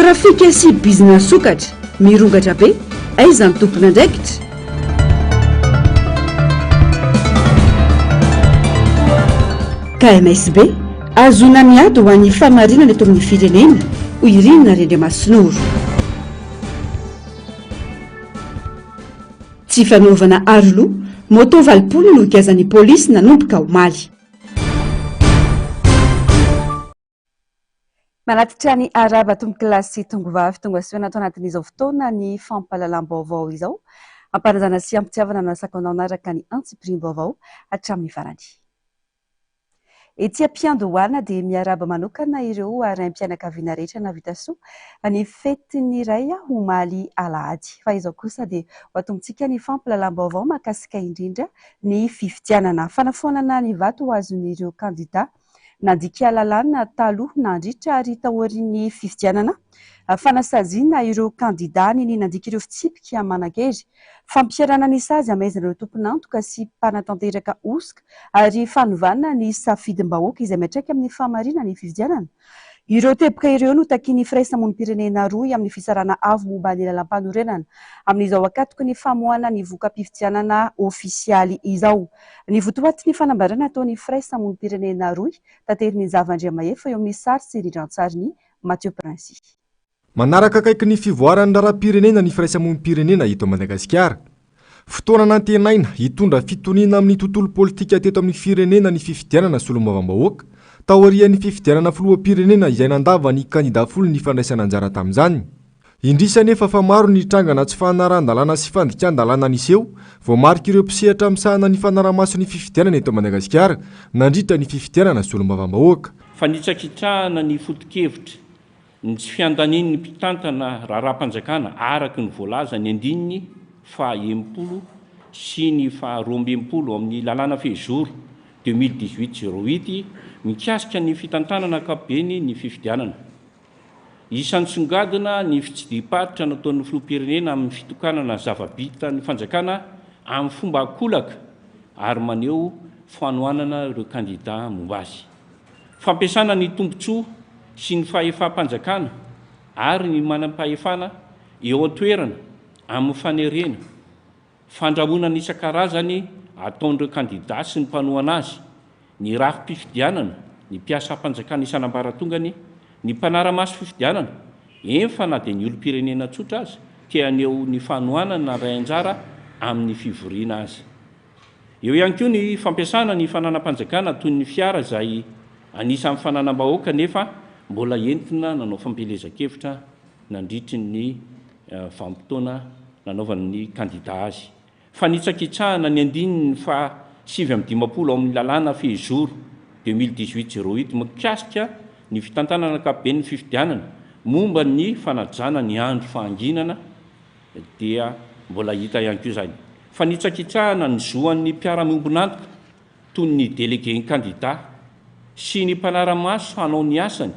Trafika sy bizina sokatra mirongatra be, aiza ny tompon'andraikitra? KMSB, ahazoana ny ady ho an'ny fahamarinana eto amin'ny firenena, hoy i Rina Rendriamasinoro. Tsy fanaovana aroloha, moto valopolo no giazan'ny polisy nanomboka omaly. Manatitra ny harava tompokolahy sy tongovavy tonga soa eto anatin'izao fotoana ny fampahalalam-baovao izao. Hampanajana sy hampitiavana no asako anao hanaraka ny antsipirim-baovao hatramin'ny farany. Etsy am-piandohana dia miarahaba manokana ireo raim-pianakaviana rehetra nahavita soa ny fetin'ny iray omaly alahady. Fahizao kosa dia ho atomontsika ny fampilalam-baovao mahakasika indrindra ny fifidianana. Fanafoanana ny vato ho azon'ireo kandida nandika lalàna taloha, nandritra ary taorian'ny fifidianana. Fanasaziana ireo kandidà ny ny nandika ireo fitsipika manan-kery. Fampiharana ny sazy hamaizana ireo tompon'antoka sy mpanatanteraka hosoka ary fanovana ny safidim-bahoaka izay miantraika amin'ny fahamariana ny fifidianana. Ireo teboka ireo no takian'ny firaisamonim-pirenena rohy amin'ny fisarahana avo momba ny lalàmpanorenana amin'izao ankatoky ny famoahana ny voka-pifidianana ofisialy izao. Ny votoatin'ny fanambarana ataon'ny firaisamonim-pirenena rohy, tateriny Nzava Andriamahefa eo amin'ny sary sy rindran-tsarin'i Mathieu Princy. Manaraka akaiky ny fivoaran'ny raharaham-pirenena ny firaisamonim-pirenena eto Madagasikara. Fotoana nantenaina hitondra fitoniana amin'ny tontolo politika teto amin'ny firenena ny fifidianana solombavambahoaka taorian'ny fifidianana filoham-pirenena izay nandava ny kandidà folo ny fandraisana anjara tamin'izany. Indrisy anefa fa maro ny trangana tsy fanarahan-dalàna sy fandikan-dalàna niseho, voamarik'ireo mpisehatra misahana ny fanarahamaso ny fifidianana eto Madagasikara, nandritra ny fifidianana solombavambahoaka. Fanitsakitrahana ny foto-kevitra, ny tsy fiandanian'ny mpitantana raharaham-panjakana araka ny voalaza ny andininy faha enimpolo sy ny faha roa amby enimpolo ao amin'ny Lalàna Fehizoro deux mille dix-huit zéro huit mikasika ny fitantanana ankapobeny ny fifidianana. Isan'ny songadina ny fitsidiham-paritra nataon'ny filoham-pirenena amin'ny fitokanana zava-bita ny fanjakana amin'ny fomba an-kolaka ary maneho fanohanana ireo kandida momba azy. Fampiasana ny tombontsoa sy ny fahefam-panjakana ary ny manam-pahefana eo an-toerana amin'ny fanerena Fandrahonana isan-karazany ataon'ireo kandidà sy ny mpanohana azy, ny rafi-pifidianana, ny mpiasam-panjakana isan'ambaratongany, ny mpanara-maso fifidianana, eny fa na dia ny olom-pirenena tsotra aza te haneho ny fanohanany nandray anjara amin'ny fivoriana aza. Eo ihany koa ny fampiasana ny fananam-panjakana toy ny fiara izay anisan'ny fananam-bahoaka nefa mbola entina nanao fampielezan-kevitra nandritry ny vanim-potoana nanaovany ny kandida azy. Fanitsakitsahana ny andininy faha sivy amby dimampolo ao amin'ny lalàna Fehizoro deux mille dix-huit zéro huit mikasika ny fitantanana ankapoben'ny fifidianana momba ny fanajana ny andro fahanginana dia mbola hita ihany koa izany fanitsakitsahana ny zo an'ny mpiara-miombon'antoka toy ny delegen'ny kandida sy ny mpanara-maso hanao ny asany,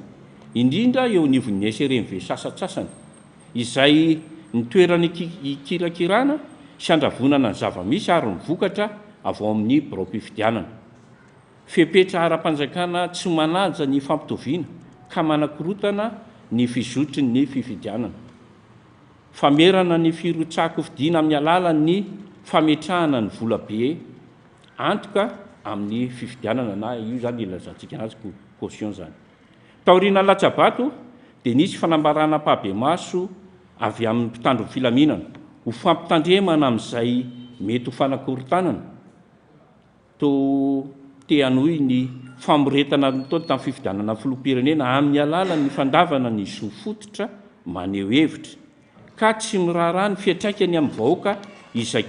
indrindra eo anivon'ny SRMV sasantsasany, izay ny toerana hikirakirana sy handravonana ny zava-misy ary ny vokatra avy ao amin'ny biraom-pifidianana. Fepetra ara-panjakana tsy manaja ny fampitoviana ka manakorotana ny fizotry ny fifidianana. Famerana ny firotsahan-kofidina amin'ny alalan'ny fametrahana ny volabe. antoka amin'ny fifidianana na io izany ilazantsika anazy caution izany. Taoriana latsabato dia nisy fanambarana ampahibemaso avy amin'ny mpitandro ny filaminana ho fampitandremana amin'izay mety ho fanakorontanana toa te hanohy ny famoretana nataony tamin'ny fifidianana filoham-pirenena amin'ny alalan'ny fandavana ny zo fototra maneho hevitra. ka tsy miraharaha ny fiantraikany amin'ny vahoaka izay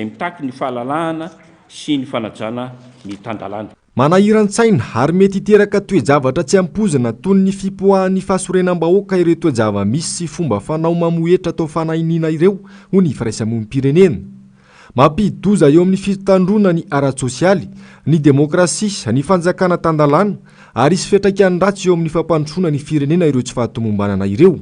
mitaky ny fahalalahana sy ny fanajana ny tan-dalàna. Manahiran-tsaina ary mety hiteraka toe-javatra tsy ampoizina toy ny fipoahan'ny fahasorenam-bahoaka ireo toe-java-misy sy fomba fanao mamohetra atao fanahiniana ireo, hoy ny Firaisamonim-pirenena. Mampidi-doza eo amin'ny fitandroana ny ara-tsosialy, ny demokrasia, ny fanjakana tan-dalàna ary hisy fiantraikany ratsy eo amin'ny fampandrosoana ny firenena ireo tsy fahatomombanana ireo.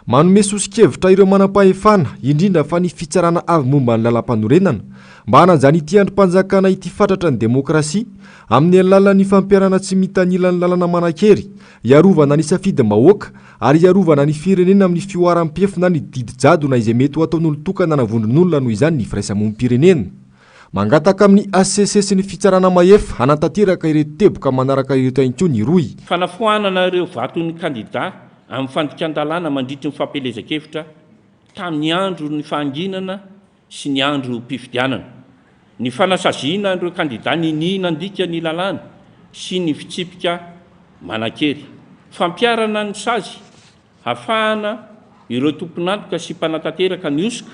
Manome soso-kevitra ireo manam-pahefana, indrindra fa ny Fitsarana Avo Momba ny Lalampanorenana, mba hanajany ity andrim-panjakana ity fatratra ny demokrasia, amin'ny alalan'ny fampiharana tsy mitanila ny lalana manan-kery, hiarovana ny safidim-bahoaka, ary hiarovana ny firenena amin'ny fihoaram-piefina ny didy jadona izay mety ho ataon'olon-tokana na vondron'olona noho izany ny firaisamonim-pirenena. Mangataka amin'ny hcc sy ny Fitsarana Mahefa hanantanteraka ireto teboka manaraka ireto ihany koa ny rohy. Fanafoanana ireo vaton'ny kandidà amin'ny fandikan-dalàna mandritry ny fampielezan-kevitra tamin'ny andron'ny fahanginana sy ny androm-pifidianana, ny fanasaziana an'ireo kandidà niniana handika ny lalàna sy ny fitsipika manan-kery, fampiharana ny sazy hafahana ireo tompon'antoka sy mpanatanteraka ny hosoka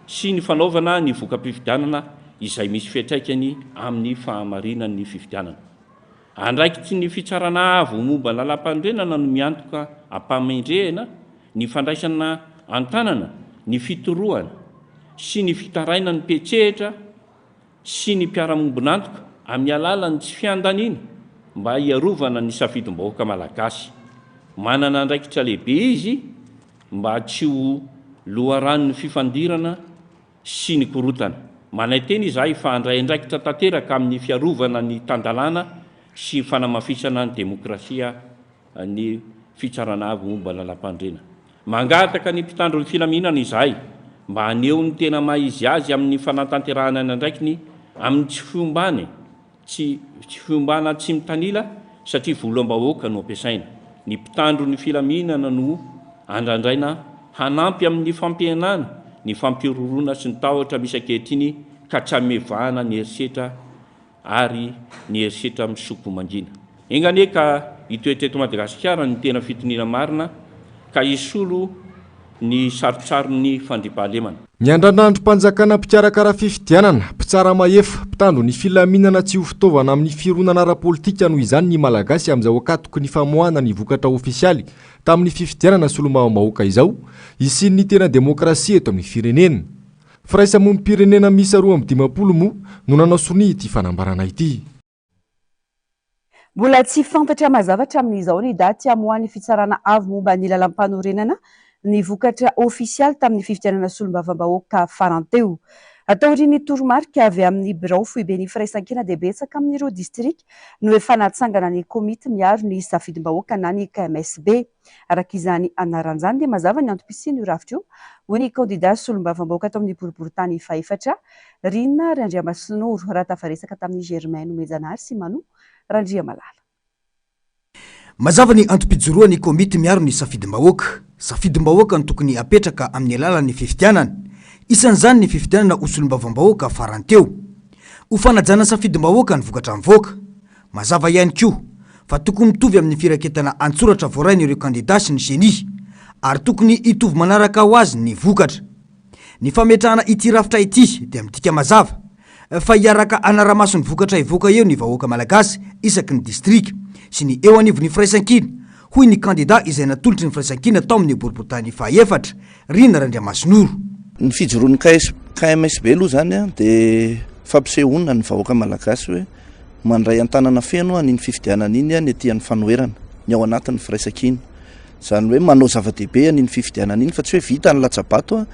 sy ny fanaovana ny voka-pifidianana izay misy fiantraikany amin'ny fahamarinan'ny fifidianana. Andraikitry ny Fitsarana Avo momba Lalampanorenana no miantoka am-pamendrehana ny fandraisana an-tanana ny fitorohana sy ny fitarainan'ny mpiantsehatra sy ny mpiara-mombon'antoka amin'ny alalan'ny tsy fiandaniana mba hiarovana ny safidim-bahoaka malagasy. Manana andraikitra lehibe izy mba tsy ho loharanon'ny fifandirana sy ny korontana. Manaitena izahay fa handray andraikitra tanteraka amin'ny fiarovana ny tan-dalàna sy fanamafisana ny demokrasia ny Fitsarana Avo Momba ny Lalampanorenana. Mangataka ny mpitandro ny filaminana izahay mba haneho ny tena maha izy azy amin'ny fanatanterahana ny andraikiny amin'ny tsy fiombàny, Tsy fiombana tsy mitanila satria volam-bahoaka no ampiasaina. Ny mpitandro ny filaminana no andrandraina hanampy amin'ny fampihenana ny fampihorohoroana sy ny tahotra misy ankehitriny ka tsy hamevahana ny herisetra ary ny herisetra misoko mangina. Enga anie ka hitoetra eto Madagasikara ny tena fitoniana marina ka hisolo ny sarotsaron'ny fandriampahalemana. Ny andrandrandrom-panjakana mpikarakara fifidianana, mpitsara mahefa, mpitandro ny filaminana tsy ho fitaovana amin'ny fironana ara-politika noho izany ny Malagasy amin'izao ankatoky ny famoahana ny vokatra ofisialy tamin'ny fifidianana solombavambahoaka izao hisian'ny tena demokrasia eto amin'ny firenena. Firaisamonim-pirenena miisa roa amby dimampolo moa no nanao sonia ity fanambarana ity. Mbola tsy fantatra mazava hatramin'izao ny daty hamoahan'ny Fitsarana Avo momba ny Lalàmpanorenana ny vokatra ofisialy tamin'ny fifidianana solombavambahoaka farany teo. Atao aorian'ny toromarika avy amin'ny birao foiben'ny firaisankina dia betsaka amin'ireo distrika no efa natsangana ny Komity miaro ny safidimbahoaka na ny KMSB. Araka izany anarany izany dia mazava ny antom-pisian'io rafitra io, hoy ny kandidà solombavambahoaka tao amin'ny boriborintany fahefatra, Rinary Andriamasinoro, raha tafaresaka tamin'i Germain Nomejanahary sy Manu Randriamalala. Mazava ny antom-pijoroan'ny komity miaro ny safidim-bahoaka. Safidim-bahoaka no tokony hapetraka amin'ny alalan'ny fifidianana. Isan'izany ny fifidianana ho solombavambahoaka farany teo. Ho fanajana safidim-bahoaka ny vokatra mivoaka. Mazava ihany koa fa tokony mitovy amin'ny firaketana an-tsoratra voarain'ireo kandidà sy ny ceni, ary tokony hitovy manaraka ho azy ny vokatra. Ny fametrahana ity rafitra ity dia midika mazava fa hiaraka hanara-maso ny vokatra hivoaka eo ny vahoaka Malagasy isaky ny distrika sy ny eo anivon'ny firaisankina, hoy ny kandida izay natolotry ny firaisankina tao amin'ny boriborintany fahaefatra, Rina Randriamasinoro. Ny fijoroan'ny KMSB aloha izany dia fampisehoana ny vahoaka malagasy hoe mandray an-tanana feno an'iny fifidianana iny ny tiany fanoherana ny ao anatin'ny firaisankina. Izany hoe manao zava-dehibe an'iny fifidianana iny fa tsy hoe vita ny latsa-bato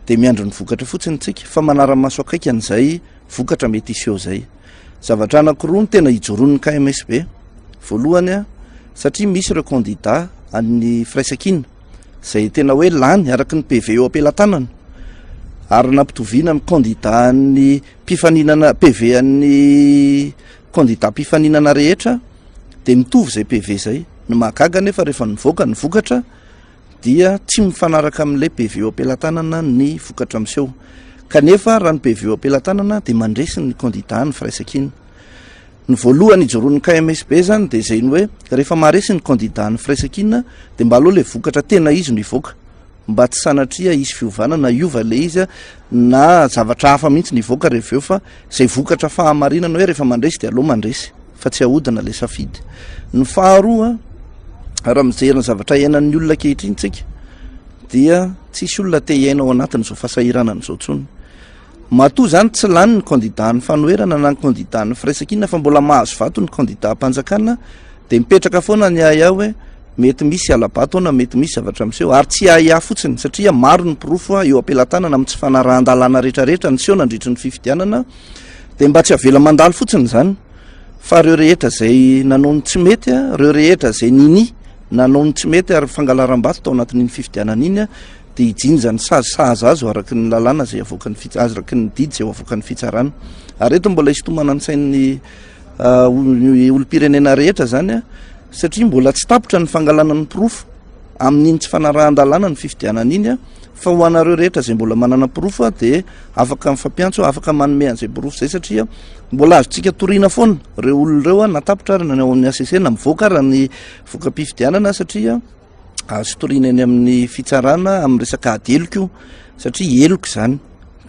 dia miandry ny vokatra fotsiny isika fa manara-maso akaiky an'izay vokatra mety hiseho izay. Zavatra anakiroa no tena ijoroan'ny KMSB. Voalohany a, satria misy ireo kandida an'ny firaisankina izay tena hoe lany araka ny PV eo am-pelatanana ary nampitoviana amin'ny kandida an'ny mpifaninana PV an'ny kandida mpifaninana rehetra dia mitovy izay PV izay. Ny mahagaga anefa rehefa nivoaka ny vokatra dia tsy mifanaraka amin'ilay PV eo am-pelatanana ny vokatra miseho. Kanefa raha ny PV eo am-pelatanana dia mandresy ny kandidà ny firaisankina. Ny voalohany ijoroan'ny KMSB izany dia izay ny hoe rehefa maharesy ny kandidà ny firaisankina dia mba aleo ilay vokatra tena izy no hivoaka mba tsy sanatria hisy fiovana na hiova ilay izy na zavatra hafa mihitsy ny hivoaka rehefa eo fa izay vokatra fahamarinana hoe rehefa mandresy dia aleo mandresy. fa tsy ahodina ilay safidy. Ny faharoa, raha mijery ny zavatra iainan'ny olona ankehitriny tsika, dia tsisy olona te hiaina ao anatin'izao fahasahiranana izao tsony. Matoa izany tsy lany ny kandida ny fanoherana na ny kandida ny firaisankina fa mbola mahazo vato ny kandida mpanjakana, dia mipetraka foana ny ahiahy hoe mety misy alabato na mety misy zavatra miseho ary tsy ahiahy fotsiny satria maro ny porofo eo am-pelatanana amin'ny tsy fanarahan-dalàna rehetrarehetra niseho nandritry ny fifidianana dia mba tsy avela mandalo fotsiny izany fa ireo rehetra izay nanao ny tsy mety a ireo rehetra izay nini nanao ny tsy mety ary fangalaram-bato tao anatin'iny fifidianana iny a dia hijinja ny sazy sahaza azy araky ny lalàna izay avoakan'ny fits araky ny didy izay avoakan'ny fitsarana ary eto mbola hisintomana ny sain'ny uh, olom-pirenena rehetra izany a satria mbola tsy tapitra ny fangalana ny porofo amin'iny tsy fanarahan-dalàna ny fifidianana iny a Fa ho anareo rehetra izay mbola manana porofo aho dia afaka mifampiantso aho, afaka manome an'izay porofo izay satria mbola azontsika toriana foana ireo olona ireo aho na tapitra ary na ny ao amin'ny ACC na mivoaka ary ny voka-pifidianana satria azo toriana eny amin'ny fitsarana amin'ny resaka ady heloka io satria heloka izany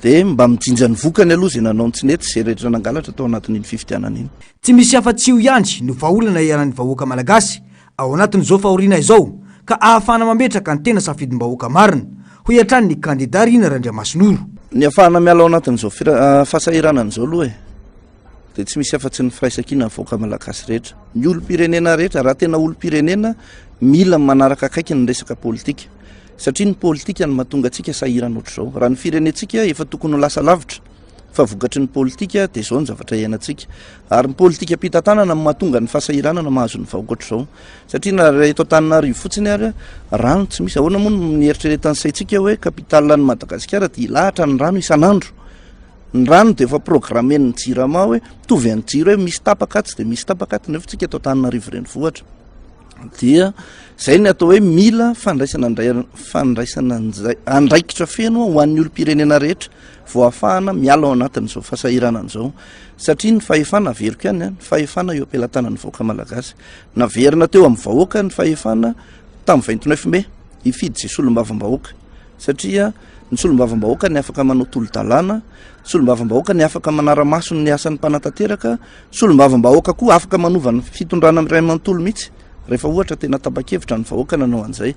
dia mba mijinja ny vokany aloha izay nanao ny tsy nety izay rehetra nangalatra tao anatin'iny fifidianana iny. Tsy misy afa-tsy io ihany no vahaolana iaran'ny vahoaka malagasy. ao anatin'izao fahoriana izao ka ahafahana mametraka ny tena safidim-bahoaka marina, hoy hatrany ny kandida Rina Randriamasinoro. Niafahana miala ao anatin'izao fahasahiranana izao aloha e, dia tsy misy afa-tsy ny firaisankina ny vahoaka malagasy rehetra, ny olom-pirenena rehetra, raha tena olom-pirenena mila manaraka akaiky ny resaka politika, satria ny politika no mahatonga antsika sahirana ohatr'izao, raha ny firenentsika efa tokony ho lasa lavitra fa vokatry ny politika dia izao ny zavatra iainantsika, Ary ny politikam-pitantanana no mahatonga ny fahasahiranana mahazo ny vahoaka ohatr'izao. Satria na raha eto Antananarivo fotsiny ary, rano tsy misy. Ahoana moa no nieritreretan'ny saintsika hoe capitale an'i Madagasikara dia hilahatra ny rano isan'andro? Ny rano dia efa programmen'ny Jirama hoe mitovy an'ny jiro hoe misy tapaka atsy dia misy tapaka aty. Nefa tsika eto Antananarivo renivohitra dia izay ny atao hoe mila fandraisana andraikitra feno ho an'ny olom-pirenena rehetra. vao ahafahana miala ao anatin'izao fahasahiranana izao satria ny fahefana averiko ihany a ny fahefana eo am-pelatanan'ny vahoaka malagasy naverina teo amin'ny vahoaka ny fahefana tamin'ny vingt neuf mai hifidy izay solombavambahoaka satria ny solombavambahoaka ny afaka manao tolo-dalàna solombavambahoaka ny afaka manara-maso ny asan'ny mpanatanteraka solombavambahoaka koa afaka manova ny fitondrana miray manontolo mihitsy rehefa ohatra tena tapa-kevitra ny vahoaka nanao an'izay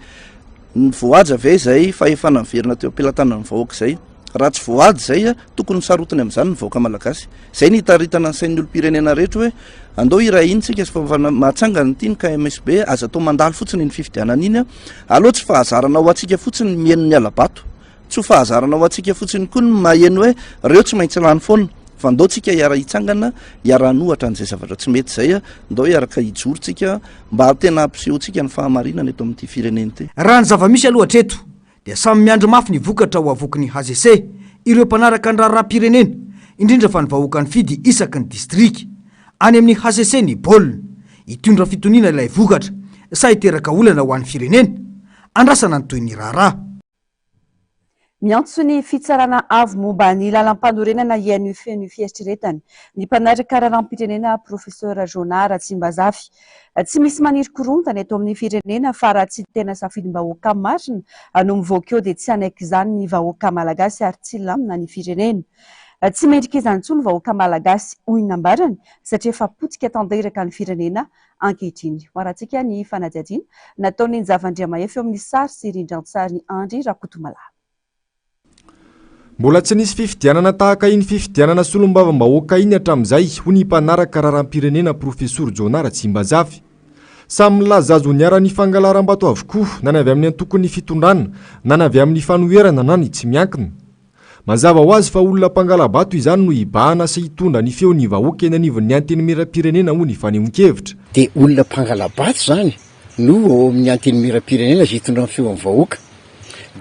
ny voahaja ve izay fahefana miverina teo am-pelatanan'ny vahoaka izay Raha tsy voady izay, tokony sarotiny amin'izany ny vahoaka malagasy. Izay no hitaritana ny sain'ny olom-pirenena rehetra hoe andao hiray hina isika fa mahatsangana ity ny KMSB, aza atao mandalo fotsiny iny fifidianana iny. Aleo tsy fahazarana ho antsika fotsiny ny mihaino ny hala-bato. Tsy ho fahazarana ho antsika fotsiny koa ny maheno hoe ireo tsy maintsy lany foana. Fa andao tsika hiara-hitsangana, hiara-hanohatra an'izay zavatra tsy mety izay. Andao hiaraka hijoro tsika mba tena hampisehoantsika ny fahamarinana eto amin'ity firenena ity. Raha ny zava-misy aloha hatreto dia samy miandry mafy ny vokatra ho avoky ny Hcc ireo mpanaraka ny raharaham-pirenena, indrindra fa ny vahoaka nifidy isaky ny distrika. Any amin'ny Hcc ny baolina, hitondra fitoniana ilay vokatra sa hiteraka olana ho an'ny firenena? Andrasana ny tohin'ny raharaha. Miantso ny Fitsarana Avo momba ny Lalampanorenana hihaino feno fieritreretana ny mpanaraka raharaham-pirenena Professeur Jonah Ratsimbazafy Tsy misy maniry korontana eto amin'ny firenena fa raha tsy tena safidim-bahoaka marina no mivoaka eo dia tsy hanaiky izany ny vahoaka malagasy ary tsy hilamina ny firenena. Tsy mendrika izany intsony ny vahoaka malagasy hoy ny nambarany satria efa potika tanteraka ny firenena ankehitriny. Hoarantsika ny fanadihadiana nataon'i Njavandriamahefa eo amin'ny sary sy rindrantsary Andry Rakotomalahy. Mbola tsy nisy fifidianana tahaka iny fifidianana solombavambahoaka iny hatramin'izay, hoy ny mpanaraka raharaham-pirenena Profesoro Jonah Ratsimbazafy. Samy milaza azy ho niharan'ny fangalaram-bato avokoa, na ny avy amin'ny antokon'ny fitondrana, na ny avy amin'ny fanoherana na ny tsy miankina. Mazava ho azy fa olona mpangala-bato izany no hibahana sy hitondra ny feon'ny vahoaka eny anivon'ny Antenimierampirenena, hoy ny fanehoan-kevitra. Dia olona mpangala-bato izany? no ao amin'ny Antenimierampirenena izay hitondra ny feon'ny vahoaka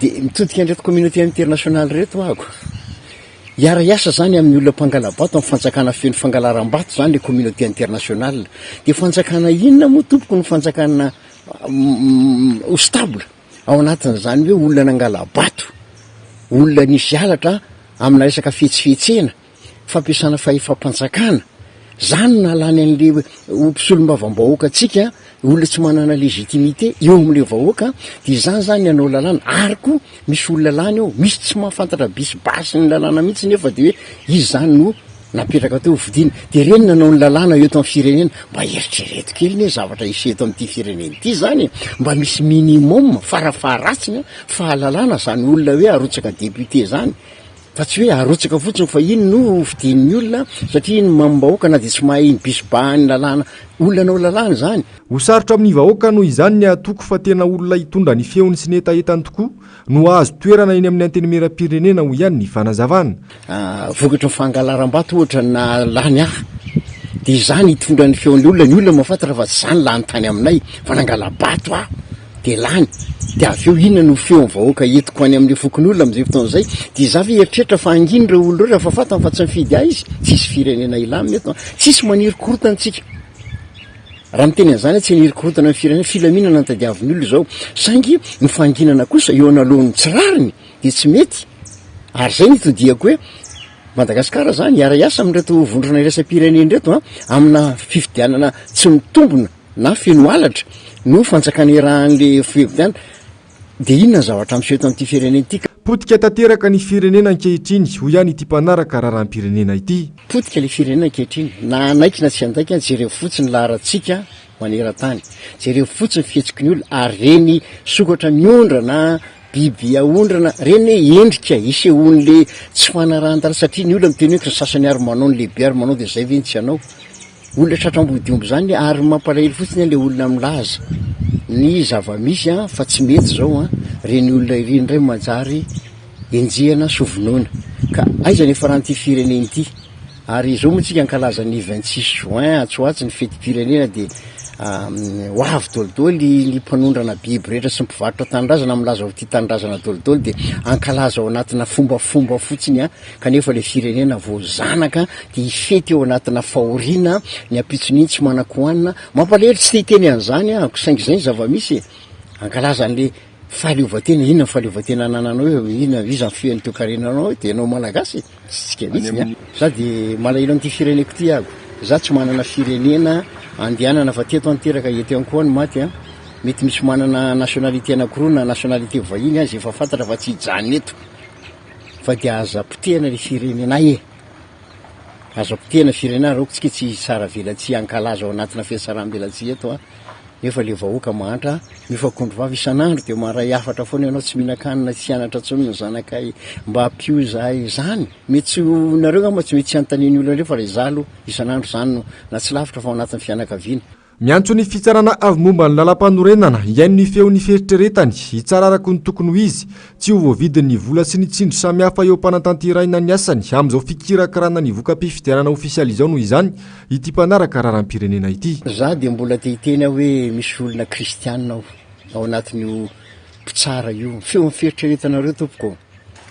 dia mitodika an'ireto communauté internationale ireto ahako. Hiara-hiasa izany amin'ny olona mpangala-bato amin'ny fanjakana feno fangalaram-bato izany ilay communauté internationale. Dia fanjakana inona moa tompoko no fanjakana ho stable ao anatin'izany hoe olona nangala-bato, olona nisy halatra amina resaka fihetsifihetsehana? fampiasana fahefam-panjakana, izany no nahalany an'ilay ho mpisolombavambahoaka antsika, olona tsy manana légitimité eo amin'ilay vahoaka, dia izany izany ny hanao lalàna, ary koa misy olona lany ao, misy tsy mahafantatra bis basy ny lalàna mihitsy nefa dia hoe izy izany no napetraka teo hofidiana, dia ireny nanao ny lalàna eto amin'ny firenena, mba eritrereto kely anie zavatra hisy eto amin'ity firenena ity izany e! mba misy minimum, fara faharatsiny an, fahalalana izany olona hoe arotsaka député izany, Fa tsy hoe arotsaka fotsiny fa iny no hofidian'ny olona satria iny mamim-bahoaka na dia tsy mahay iny bis bahan'ny lalàna olona hanao lalàna izany. Ho sarotra amin'ny vahoaka noho izany ny hatoky fa tena olona hitondra ny feony sy ny hetahetany tokoa no hahazo toerana eny amin'ny Antenimierampirenena, hoy ihany ny fanazavana. Vokatry ny fangalaram-bato ohatra na lany hafa dia izany hitondra ny feon'ny olona, ny olona mahafantatra fa tsy izany lany tany aminay fa nangala-bato aho. dia lany, dia avy eo inona no feon'ny vahoaka entiko any amin'ireo fokonolona amin'izay fotoana izay? Dia izaho ve hieritreritra fa hangina ireo olona ireo rehefa fantany fa tsy mifidy ahy izy? Tsisy firenena hilamina eto an! Tsisy maniry korontana antsika. Raha miteny an'izany aho, tsy haniry korontana ny firenena, filaminana no tadiavin'ny olona izao. Saingy ny fanginana kosa eo analohan'ny tsy rariny dia tsy mety. Ary izay no itodihako hoe, Madagasikara izany hiara-hiasa amin'ireto vondrona iraisam-pirenena ireto an, amina fifidianana tsy mitombina. na feno halatra no fanjakana irahan'le fifidianana de inona ny zavatra miseho eto amin'ity firenena ity ka. Potika tanteraka ny firenena ankehitriny, hoy ihany ity mpanaraka raharaham-pirenena ity. Potika ilay firenena ankehitriny, na hanaiky na tsy handaika, jereo fotsiny ny laharantsika manerantany, jereo fotsiny ny fihetsiky ny olona, ary reny sokatra miondra na biby aondrana reny endrika isehoan'le tsy fanarahan-dalana, satria ny olona miteny hoe, ny sasany ary manao, ny lehibe ary manao, de zay ve ny tsy hanao? Olona tratra ambody omby izany ary mampalahelo fotsiny an le olona milaza ny zavamisy an fa tsy mety izao an ireny olona ireny indray manjary enjehana sy hovonoina ka aiza ny hiafarany ity firenena ity ary izao moa tsika ankalaza ny vingt six juin atsy ho atsy ny fetim-pirenena dia ho avy dolidoly ny mpanondrana biby rehetra sy ny mpivarotra tanindrazana milaza ho tia tanindrazana dolidoly dia ankalaza ao anatina fombafomba fotsiny an kanefa ilay firenena vao zanaka dia hifety ao anatina fahoriana ny ampitson'iny tsy manan-kohanina, mampalahelo tsy te hiteny an'izany aho ko saingy izay ny zava-misy e! hankalaza an'ilay fahaleovantena, inona ny fahaleovantena anananao eo, inona, iza ny fihaino teo karenanao eo, dia ianao malagasy e! tsy tsika mihitsy ny ahy, za dia malahelo an'ity fireneko ity aho, za tsy manana firenena andehanana fa teto aho no teraka, eto ihany koa aho no maty an! mety misy manana nationalité anakiroa na nationalité vahiny aza efa fantatra fa tsy hijanona eto, Fa dia aza potehana le firenenay e! Aza potehana firenena raoko tsika tsy hitsara velatsihy hankalaza ao anatina fiatsaram-belatsihy eto an! Nefa le vahoaka mahantra mifakondro vava isan'andro dia maharay hafatra foana ianao tsy mihinan-kanina tsy hianatra tsony ny zanakay mba ampio zahay zany mety tsy ho nareo angamba tsy mety tsy anontanian'ny olona reo fa raha izaho aloha isan'andro zany no na tsy lavitra fa ao anatin'ny fianakaviana Miantso ny fitsarana avy momba ny lalampanorenana hihaino ny feon'ny fieritreretany, hitsara araka ny tokony ho izy, tsy ho voavidin'ny vola sy ny tsindry samihafa eo am-panantanterahina ny asany amin'izao fikirakirana ny voka-pifidianana ofisialy izao noho izany ity mpanaraka raharaham-pirenena ity. Za dia mbola te hiteny aho hoe misy olona kristiana ao ao anatin'io mpitsara io. Feon'ny fieritreretanareo tompoko ô!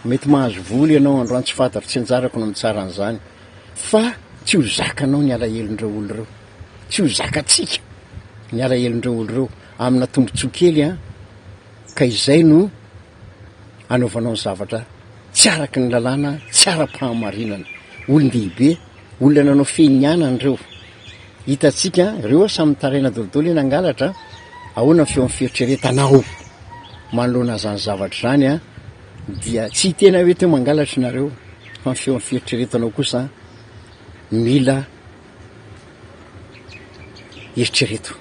Mety mahazo vola ianao androany tsy fantako, tsy anjarako ny mitsara an'izany fa tsy ho zakanao ny alahelon'ireo olona ireo. tsy ho zakatsika ny alahelon'ireo olo ireo amina tombotsoa kely an, ka izay no anaovanao ny zavatra tsy araky ny lalàna, tsy ara-pahamarinana. Olon-dehibe, olona nanao fihinianana ireo. Hitantsika an, ireo an samy mitaraina daholo eny hangalatra an, ahoana ny feo amin'ny fieritreretanao manoloana izany zavatra izany an, dia tsy ny tena hoe teo mangalatra ianareo fa ny feo amin'ny fieritreretanao kosa mila. eritrereto.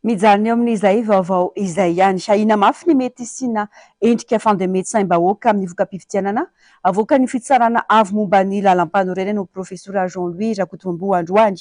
Mijanona eo amin'izay vaovao izay ihany. Ahiana mafy ny mety hisiana endrika fandemen-tsaim-bahoaka amin'ny voka-pifidianana avoakan'ny Fitsarana avo momba ny Lalampanorenana ho Profesora Jean Louis Rakotomamboa androany.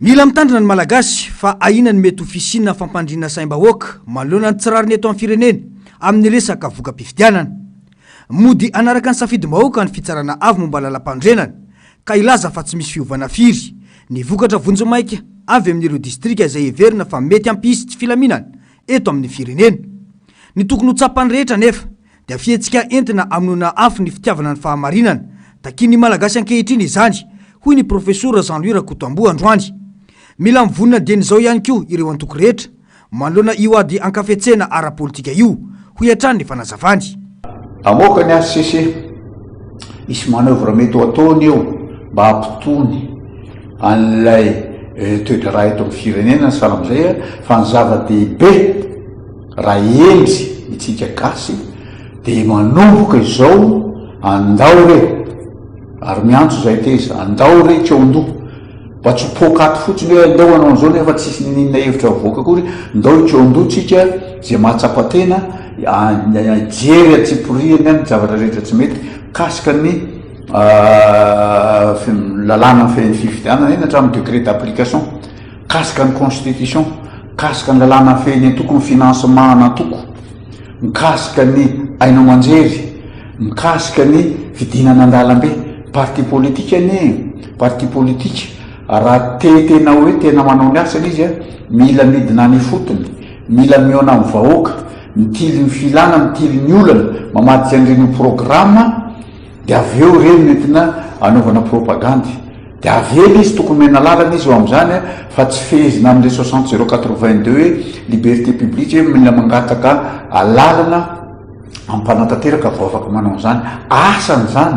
Mila mitandrina ny Malagasy fa ahiana ny mety ho fisiana fampandriana saim-bahoaka manoloana ny tsy rariny eto amin'ny firenena amin'ny resaka voka-pifidianana. Mody hanaraka ny safidim-bahoaka ny Fitsarana Avo momba Lalampanorenana ka hilaza fa tsy misy fiovana firy ny vokatra vonjimaika avy amin'ireo distrika izay heverina fa mety hampisy tsy filaminana eto amin'ny firenena. Ny tokony ho tsapan'ny rehetra anefa dia fihetsika entina amonoana afo ny fitiavana ny fahamarinana. Takian'ny Malagasy ankehitriny izany, hoy ny Profesora Jean Louis Rakotoamboa androany. Mila mivonona dieny izao ihany koa ireo antoko rehetra, manoloana io ady ankafetsena ara-politika io, hoy hatrany ny fanazavany. Hamoaka ny hcc, hisy manoeuvre mety ho ataony eo mba hampitony an'ilay toedraharaha eto amin'ny firenena ny sahala amin'izay fa ny zava-dehibe, Raha hendry itsika gasy dia manomboka izao andao re ary miantso zay teza andao re tsy eo andoha mba tsy ho poaka ato fotsiny hoe andao anao an'izao nefa tsisy ninina hevitra mivoaka akory ndao tsy eo andoha tsika zay mahatsapa tena hijery antsipirihany ny zavatra rehetra tsy mety mikasika ny lalàna fifidianana eny hatramin'ny décret d'application. Mikasika ny Constitution, mikasika ny lalàna mifehy ny antoko, ny financement an'antoko, mikasika ny haino aman-jery, mikasika ny fidinana an-dalambe. Parti politique anie, parti politique, raha te tena hoe tena manao ny asany izy, mila midina any ifotony, mila mihaona amin'ny vahoaka, mitily ny filana, mitily ny olana, mamadika an'ireny ho programme, dia avy eo ireny no entina hanaovana propagandy. Dia avela izy, tokony omena lalana izy eo amin'izany fa tsy fehezina amin'ilay soixante zéro quatre-vingt-deux hoe liberté publique hoe mila mangataka lalana hampanatanteraka vao afaka manao an'izany asany izany,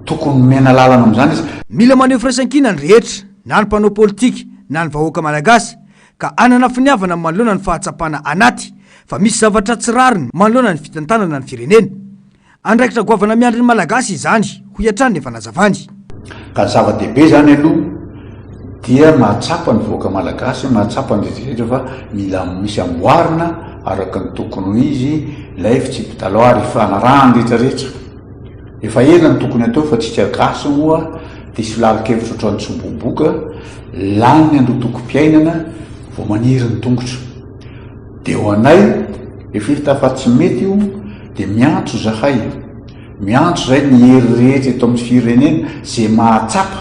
tokony omena lalana amin'izany izy. Mila maneho firaisankina ny rehetra, na ny mpanao politika na ny vahoaka malagasy, ka hanana finiavana manoloana ny fahatsapana anaty fa misy zavatra tsy rariny manoloana ny fitantanana ny firenena. Andraikitra goavana miandry ny Malagasy izany, hoy hatrany ny efa nazavany. Ka ny zava-dehibe izany aloha dia mahatsapa ny vahoaka Malagasy, mahatsapa ny rehetra rehetra fa mila misy amboarina araka ny tokony ho izy ilay fitsipi-dalao ary ifanarahan'ny rehetra rehetra. Efa ela no tokony hatao fa tsika Gasy moa dia solarin-kevitra ohatran'ny tsoboboka, lany ny andotokom-piainana vao maniry ny tongotra. Dia ho anay, rehefa hita fa tsy mety io, dia miantso izahay, miantso izay ny hery rehetra eto amin'ny firenena, izay mahatsapa,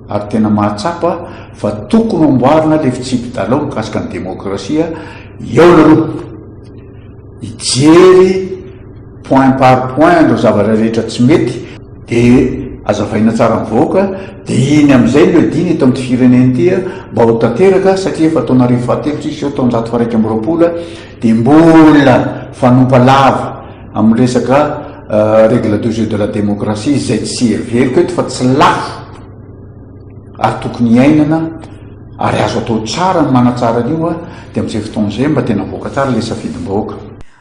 ary tena mahatsapa, fa tokony hamboarina ilay fitsipi-dalao mikasika ny demokrasia, hihaona aloha, hijery, point par point an'ireo zavatra rehetra tsy mety dia azavaina tsara amin'ny vahoaka dia iny amin'izay no edina eto amin'ity firenena ity mba ho tanteraka satria efa taona arivo fahatelo tsy hiseho taonjato faraika amby roapolo dia mbola fanompa lava amin'ny resaka euh, règle de jeu de la démocratie izay tsy heveriko eto fa tsy lafo ary tokony hiainana ary azo atao tsara ny manatsara an'io a dia amin'izay fotoana izay mba tena voaka tsara ilay safidim-bahoaka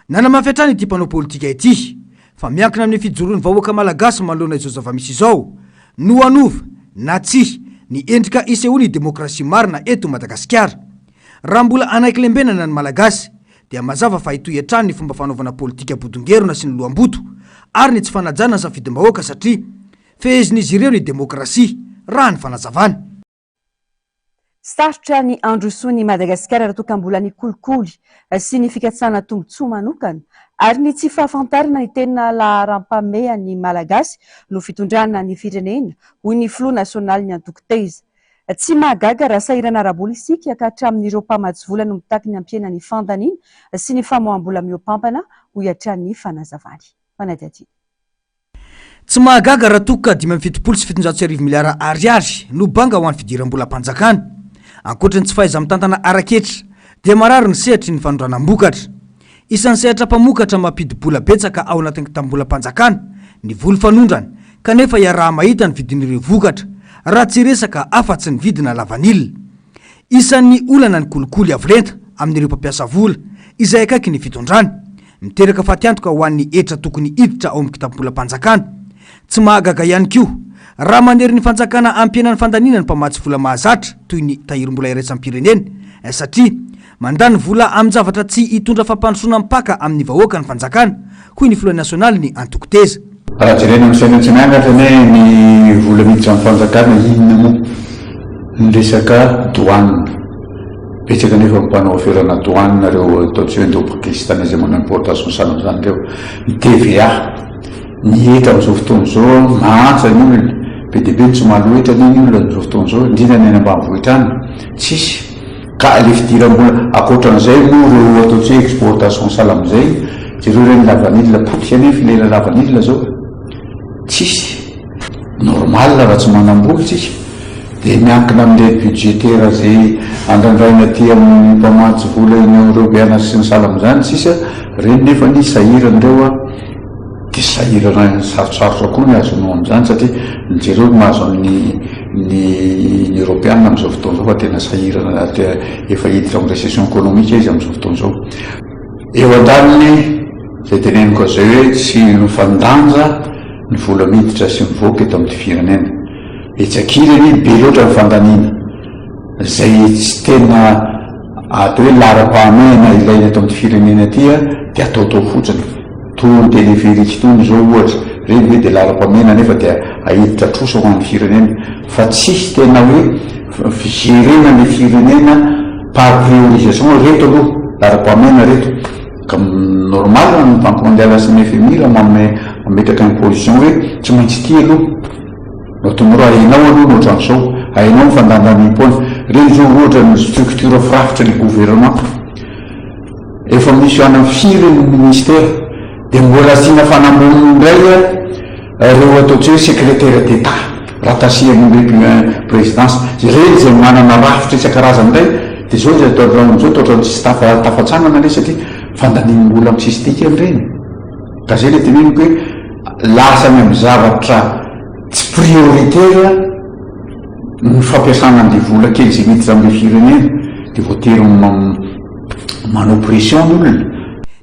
Nanamafy hatrany ity mpanao politika ity fa miankina amin'ny fijoroan'ny vahoaka malagasy manoloana izao zava-misy izao no hanova na tsia ny endrika isehoan'ny demokrasia marina eto Madagasikara. Raha mbola hanaiky lembenana ny Malagasy dia mazava fa hitohy hatrany ny fomba fanaovana politika bodongerona sy ny loham-boto ary ny tsy fanajana ny safidim-bahoaka satria fehezin'izy ireo ny demokrasia raha ny fanazavana. Sarotra ny handrosoan' i Madagasikara raha toa ka mbola ny kolikoly sy ny fikatsahana tombontsoa manokana ary ny tsy fahafantarana ny tena laharam-pahamehan' ny Malagasy no fitondrana ny firenena, hoy ny filoha nasionaly ny antoko Taiza. Tsy mahagaga raha sahirana ara-bola isika ka hatramin' ireo mpamatsy vola no mitaky ny hampiana ny fandaniana sy ny famoaham-bola mihoa-pampana, hoy hatrany ny fanazavany. Fanadihadiana. Tsy mahagaga raha toa ka dimy amby fitopolo sy fitonjato sy arivo miliara Ariary no banga ho an'ny fidiram-bolam-panjakana. Ankoatry ny tsy fahaiza-mitantana ara-ketra, dia marary ny sehatry ny fanondranam-bokatra. Isan'ny sehatra mpamokatra mampidi-bola betsaka ao anatin'ny kitam-bolam-panjakana ny voly fanondrana, kanefa iaraha-mahita ny vidin'ireo vokatra, raha tsy resaka afa-tsy ny vidina lavanila. Isan'ny olana ny kolikoly avo lenta amin'ireo mpampiasa vola, izay akaiky ny fitondrana. Miteraka fatiantoka ho an'ny hetra tokony hiditra ao amin'ny kitapobolam-panjakana. Tsy mahagaga ihany koa, raha manery ny fanjakana hampihena ny fandaniana ny mpamatsy vola mahazatra toy ny Tahirimbola Iraisam-pirenena, satria mandany vola amin-javatra tsy hitondra fampandrosoana mpaka amin'ny vahoaka ny fanjakana, hoy ny filoha nasionalin'ny antoko Teza. Raha jerena amin'ny fiainantsika miangatra anie ny vola miditra amin'ny fanjakana inona moa ny resaka douane. Betsaka anefa ny mpanao aferana douane ireo ataontsika hoe indô-pakistanais izay manao importation sahala amin'izany ireo. Ny TVA, ny hetra amin'izao fotoana izao mahantra ny olona, be dia be ny tsy mahaloa hetra anie ny olona amin'izao fotoana izao indrindra ny any ambanivohitra any, tsisy. Ka le fidiram-bola akoatran'izay moa reo ataontsika hoe exportation salama zay, jereo reny lavanila potika anie filera lavanila zao, tsisy normal raha tsy manam-bola tsika, de miankina amle budgetaire zay andrandraina aty amin'ny mpamatsy vola eny amreo beanasy sy ny salama zany tsisa, reny nefany sahirana reo a. Dia sahirana ny sarotsarotra koa ny azo anao amin'izany satria mijereo ny mahazo an'ny ny ny Eropeana amin'izao fotoana izao fa tena sahirana efa hiditra amin'ny recession ekonomika izy amin'izao fotoana izao. Eo an-daniny izay teneniko azy izay hoe tsy nofan-danja ny vola miditra sy mivoaka eto amin'ity firenena. Etsy ankilany anie be loatra ny fandaniana izay tsy tena atao hoe laharam-pahamehana ilaina eto amin'ity firenena ity dia ataotao fotsiny. Toa ny téléphérique itony izao ohatra, ireny ve dia lalam-pamehana nefa dia ahiditra trosa ho an'ny firenena fa tsisy tena hoe fijerena ny firenena par priorisation, ireto aloha lalam-pamehana ireto, ka normal raha ny banque mondiale sy ny FMI raha manome mametraka imposition hoe tsy maintsy ity aloha no atao, mora hainao aloha ny ohatran'izao, hainao ny fandanjanim-poana, ireny izao ohatra ny structure firafitry ny gouvernement. Efa misy any am firy ny ministera dia mbola asiana fanamboniny indray ireo ataontsika hoe secretaire d'Etat raha tasiany indray pi présidence ireny izay manana rafitra isan-karazany indray dia izao izay atao amin'izao dia ohatran'ny tsisy tafa tafatsanana anie satria fandaniam-bola am tsisy dikany ireny ka izay ilay teneniko hoe lasa any am zavatra tsy prioritaire ny fampiasana an'ilay vola kely izay miditra am'ilay firenena dia voatery manao pression ny olona.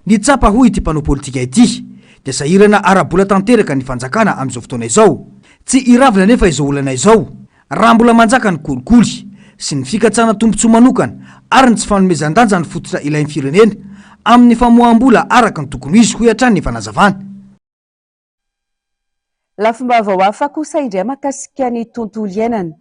Ny tsapa hoy ity mpanao politika ity dia sahirana ara-bola tanteraka ny fanjakana amin'izao fotoana izao. Tsy iravina anefa izao olana izao raha mbola manjaka ny kolikoly sy ny fikatsana tombontsoa manokana ary ny tsy fanomezan-danja ny fototra ilain'ny firenena amin'ny famoaham-bola araka ny tokony ho izy hoy hatrany ny fanazavana. Lafim-baovao hafa kosa indray mahakasika ny tontolo iainana.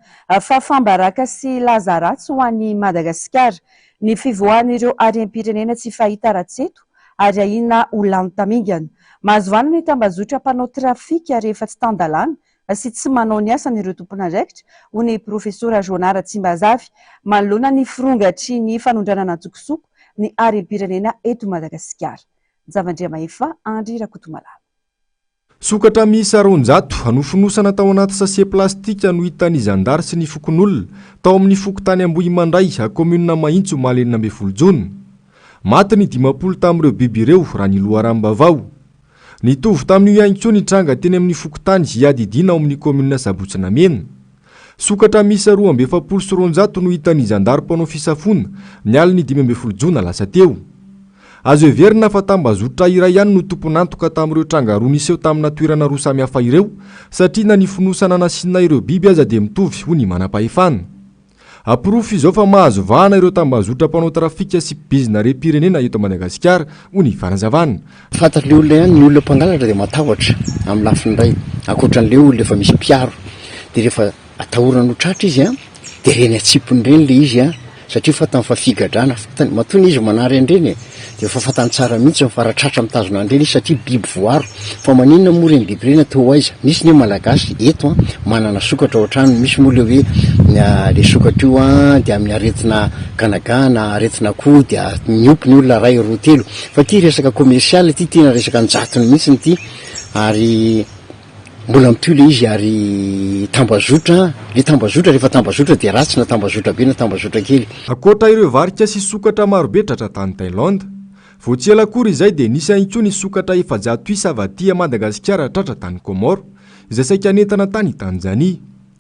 Fahafaham-baraka sy laza ratsy ho an'i Madagasikara. Ny fivoahan'ireo harem-pirenena tsy fahita rahatseto ary ahiana ho lany tamingana. Mahazo vahana ny tambazotra mpanao trafika rehefa tsy tan-dalàna sy tsy manao ny asany ireo tompon'andraikitra, hoy ny profesora Joanah Ratsimbazafy, manoloana ny firongatry ny fanondranana an-tsokosoko ny harem-pirenena eto Madagasikara. Njavan-driamahefa Andry Rakotomalala. Sokatra miisa roanjato nofonosana tao anaty sase plastika no hitan'ny zandary sy ny fokonolona, tao amin'ny fokontany Ambohimandray, kaominina Mahitsy omaly enina ambin'ny folo jona. Maty ny dimampolo tamin'ireo biby ireo, raha ny loharanom-bavao. Nitovy tamin'io ihany koa ny tranga teny amin'ny fokontany Iadidiana ao amin'ny kaominina Sabotsy Namena. Sokatra miisa roa amby efapolo sy roanjato no hitan'ny zandary mpanao fisafoana, ny alin'ny dimy ambin'ny folo jona lasa teo. Azo heverina fa tambazotra iray ihany no tompon'antoka tamin'ireo tranga roa niseho tamina toerana roa samihafa ireo, satria na ny fonosana nasiana ireo biby aza dia mitovy, hoy ny manampahefana. Aporofo izao fa mahazo vahana ireo tambazotra mpanao trafika sy mpibizina harem-pirenena eto Madagasikara, hoy ny fanazavana. Fantatr'ilay olona ihany, ny olona mpangalatra dia matahotra amin'ny lafiny iray, ankoatran'ilay olona efa misy mpiaro dia rehefa atahorana ho tratra izy an, dia ireny an-tsipiny ireny ilay izy an, satria fantany fa figadrana, fantany, matoa ilay izy manary an'ireny e, dia efa fantany tsara mihintsy fa raha tratra mitazona an'ireny izy satria biby voaro, fa maninona moa ireny biby ireny an, toa ho aiza, misy ny malagasy eto an, manana sokatra ao an-tranony, misy moa ilay hoe ilay sokatra io an dia amin'ny aretina ganaga na aretina akoho dia miompy ny olona iray, roa, telo. Fa ity resaka commercial ity tena resaka an-jatony mihitsy ity ary mbola mitohy ilay izy ary tambazotra, ilay tambazotra rehefa tambazotra dia ratsy na tambazotra be na tambazotra kely. Ankoatra ireo varika sy sokatra marobe tratra tany Thaïlande, vao tsy ela akory izay dia nisy ihany koa ny sokatra efajato isa avy aty Madagasikara tratra tany Comores izay saika nentana tany Tanzanie.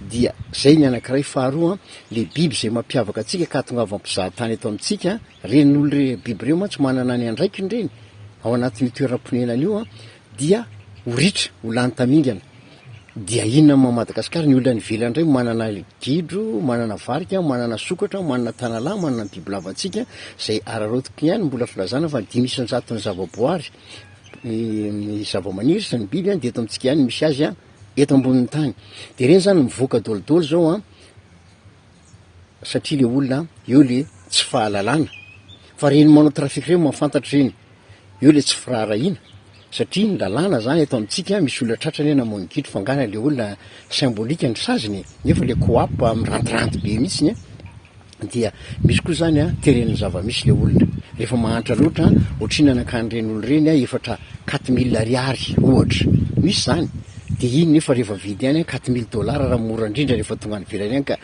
Dia zay ny anankiray faharoa le biby izay mampiavaka antsika ka atongavam pizahatany eto amintsika, reny olo reny biby reo mantsy manana ny andraikiny reny ao anatin'io toeram ponenany io an, dia ho ritra, ho lany tamingana, dia inona ma Madagasikara, ny olo any ivelany ndray manana gidro, manana varika, manana sokatra, manana tanalahy, manana ny bibilava ntsika zay araraotiko ihany no mbola filazana fa dimy isan jaton'ny zava boary, ny zava maniry sy ny biby an dia eto amintsika ihany no misy azy an, eto ambonin'ny tany de reny zany mivoaka dolidoly zao an satria le olona eo le tsy fahalalana fa reny manao trafic reny mahafantatra reny eo le tsy firaharahiana satria ny lalàna zany eto amintsika misy olona tratrany hoe namono gidro fa angaha le olona symbolique ny saziny nefa le coap mirantiranty be mihitsiny dia misy koa zany a teren'ny zava-misy le olona rehefa mahantra loatra a, ohatrinona nankany ireny olona ireny a efatra quatre mille ariary ohatra, misy zany, de iny nefa rehefa vidy any a quatre mille dollars raha mora indrindra rehefa tonga any ivelany any ka,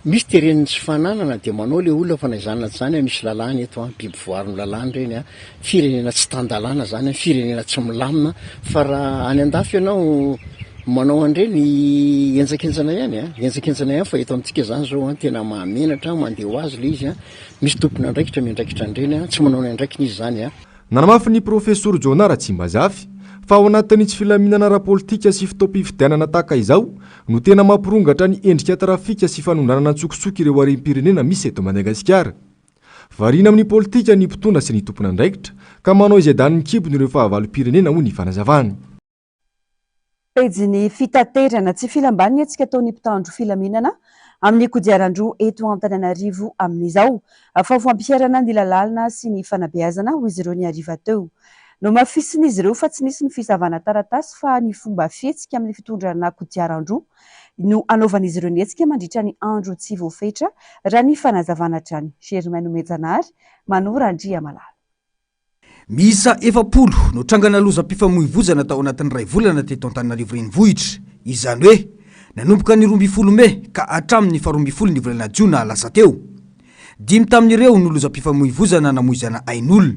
misy teren'ny tsy fananana de manao le olona fa na izany na tsy izany a misy lalàna eto a, biby voarin'ny lalàna ireny a, Firenena tsy tan-dalàna zany an, firenena tsy milamina fa raha any an-dafy ianao manao an'ireny henjakenjana ihany an, henjakenjana ihany fa eto amintsika zany zao an tena mahamenatra, mandeha ho azy le izy an, misy tompon'andraikitra miandraikitra an'ireny an, tsy manao ny andraikiny izy zany an. Nanamafy ny Profesor Jonah Ratsimbazafy fa ao anatin'ny tsy filaminana ara-politika sy fotoam-pifidianana tahaka izao no tena mampirongatra ny endrika trafika sy fanondranana an-tsokosoko ireo harem-pirenena misy eto Madagasikara. Variana amin'ny politika ny mpitondra sy ny tompon'andraikitra ka manao izay danin'ny kibony ireo fahavalom-pirenena, hoy ny fanazavany. Pejin'ny fitaterana tsy filam-baniny hetsika ataon'ny mpitandro filaminana amin'ny kodiaran-droa eto Antananarivo amin'izao fa ho fampiharana ny lalàna sy ny fanabeazana hoy izy ireo ny hariva teo. Nohamafisin'izy ireo fa tsy nisy ny fisavana taratasy fa ny fomba fihetsika amin'ny fitondrana kodiaran-droa no anaovan'izy ireo ny hetsika mandritra ny andro tsy voafetra, raha ny fanazavana hatrany. Germain Nomenjanahary, Mano Randriamalala. Miisa efapolo no trangana lozam-pifamoivozana tao anatin'ny iray volana teto Antananarivo Renivohitra. Izany hoe, nanomboka ny roa ambin'ny folo mey ka hatramin'ny faharoa ambin'ny folo ny volana jiona lasa teo. Dimy tamin'ireo no lozam-pifamoivozana namoizana ain'olona.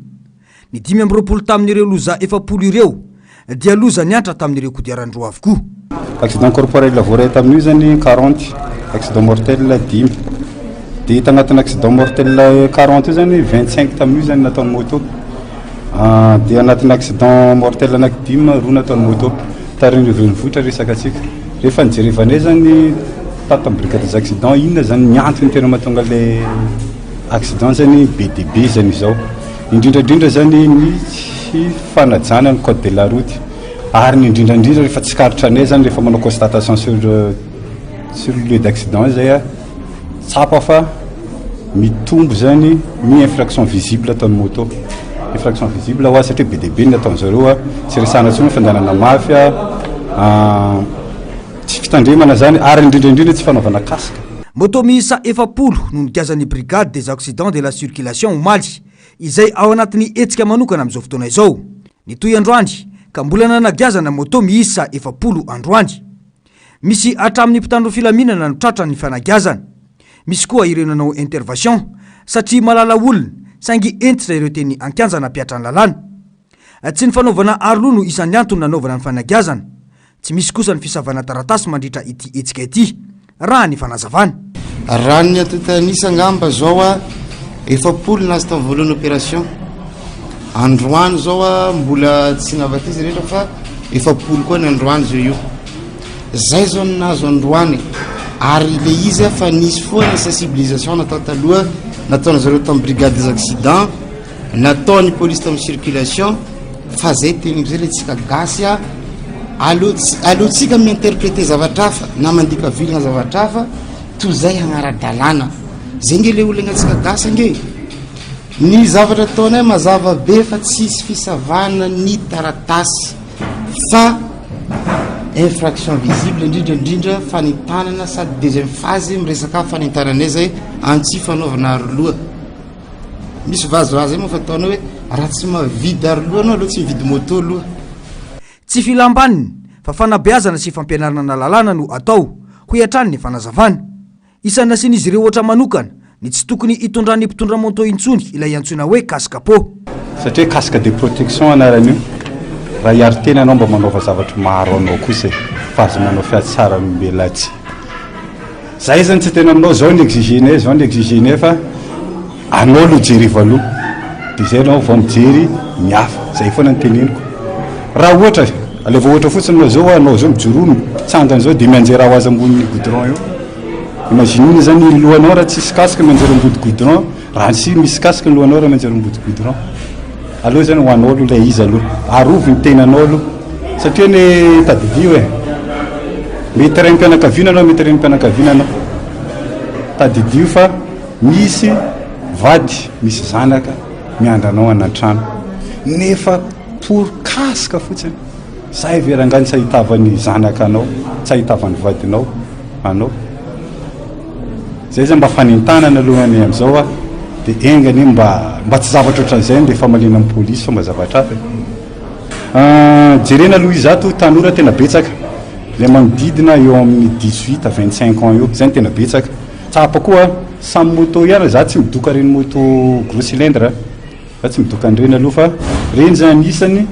Ny dimy amby roapolo tamin'ireo loza efapolo ireo dia loza niantra tamin'ireo kodiaran-droa avokoa. Accident corporel voaray tamin'io izany quarante, accident mortel dimy. Dia tanatin'ny accident mortel quarante io izany vingt cinq tamin'io izany nataon'ny moto. Dia anatin'ny accident mortel anaky dimy roa nataon'ny moto tarihin'ny renivohitra resaka antsika. Rehefa nijerevana eo zany tato amin'ny brigade des accidents inona zany ny antony tena mahatonga le accident zany be dia be zany izao. Indrindra indrindra zany ny tsy fanajana ny code de la route ary ny indrindra indrindra rehefa tsikaritra anay zany rehefa manao constatation sur sur lieu d'accident zay a. Tsapa fa mitombo izay ny ny infraction visible ataon'ny moto. Infraction visible hoa satria be dia be ny ataon'ny zareo a, tsy resahana intsony fandehanana mafy a, tsy fitandremana izany ary indrindra indrindra tsy fanaovana casque. Moto miisa efapolo no nigazan'ny Brigade des accidents de la circulation omaly, izay ao anatin'ny hetsika manokana amin'izao fotoana izao. Nitohy androany ka mbola nanagiazana moto miisa efapolo androany. Misy hatramin'ny mpitandro filaminana no tratra ny fanagiazana. Misy koa ireo nanao intervation satria malala olona saingy hentitra ireo teny an-kianja nampiatra ny lalàna. Tsy ny fanaovana aroloha no isan'ny antony nanaovana ny fanagiazana. Tsy misy kosa ny fisavana taratasy mandritra ity hetsika ity, raha ny fanazavana. Raha ny antontan'isa angamba zao a efapolo ny lasta voalohany opération androany zao a mbola tsy navak'izy rehetra fa efapolo koa ny androany zao io zay zao ny nahazo androany ary le izy a fa nisy foana sensibilisation natao taloha nataon'izareo tamin'ny brigade des accidents Natao ny police tam circulation fa zay teny zay le tsika gasy a aleo aleo tsika mi interpréter zavatra hafa na mandika vilagna zavatra hafa toy zay hagnara-dalàna zay nge le olagna tsika gasy ange ny zavatra ataonay mazava be fa tsisy fisavana ny taratasy fa infraction visible indrindra indrindra fanentanana sady deuxième phase miresaka fanentananay zay antsy fanaovana aroloha Misy vazo raha zay moa fataonao hoe raha tsy mavidy aro loha anao aloha tsy mividy moto aloha. Tsy filam-baniny fa fanabeazana sy fampianarnana lalàna no atao, hoy hatrany ny fanazavana. Isan'ny nasian'izy ireo ohatra manokana ny tsy tokony hitondran'ny mpitondra moto intsony ilay antsoina hoe casque peau. Satria casque de protection anaran'io, raha hiaro tena ianao mba manaova zavatra maha-aro anao kosa e, fa aza manao fiatsaran'olombelona atsy. Za izany tsy tena aminao zao ny exigene zao ny exigene fa anao aloha jereo aloha de zay anao vao mijery ny hafa zay foana ny teneniko raha ohatra aleo ohatra fotsiny anao zao anao zao mijoroa mitsangana zao de mianjera ho azy ambony goudron eo imaginez zany ny lohanao raha tsisy casque mianjera ambody goudron Raha nisy misy casque lohanao raha maintsy aromboto goudron aloha izany ho anao aloha ilay izy aloha, arovy ny tenanao aloha satria anie tadidio e, mety raim-pianakaviana anao mety renim-pianakaviana anao, tadidio fa misy vady misy zanaka miandry anao any an-trano nefa pour casque fotsiny, zay ve rangahy tsy ahitavan'ny zanaka anao, tsy ahitavan'ny vadinao anao. Zay zany mba fanentanana aloha anie amzao a de enga anie mba mba tsy zavatra ohatran'izay ny famaliana ny police fa mba zavatra hafa e ah jerena aloha izato tanora tena betsaka le manodidina eo amin'ny dix huit à vingt cinq ans eo zay no tena betsaka tsapa koa samy moto ihany za tsy midoka reny moto gros cylindre a Za tsy midoka an'ireny aloha fa ireny zany anisany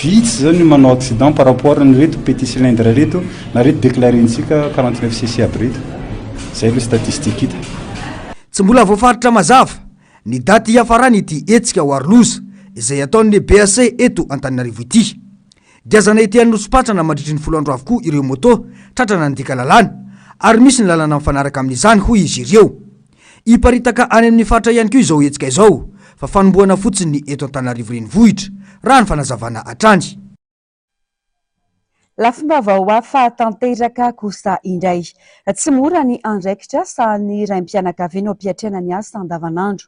vitsy zao ny manao accident par rapport an'ireto petit cylindre reto na reto declarentsika quarante neuf cc aby reto. Zay aloha statistique hita. Tsy mbola voafaritra mazava ny daty hiafarany ity hetsika ho aro loza izay hataon'ny BAC eto Antananarivo ity. Giazana ety Anosipatrana mandritry ny folo andro avokoa ireo moto tratra nandika lalàna ary misy ny lalana mifanaraka amin'izany hoy izy ireo. Hiparitaka any amin'ny faritra ihany koa izao hetsika izao fa fanombohana fotsiny ny eto Antananarivo renivohitra, raha ny fanazavana hatrany. Lafim-baovao hafa tanteraka kosa indray. Tsy mora ny andraikitra sahanin'ny raim-pianakaviana ao am-piatrehana ny asa andavanandro.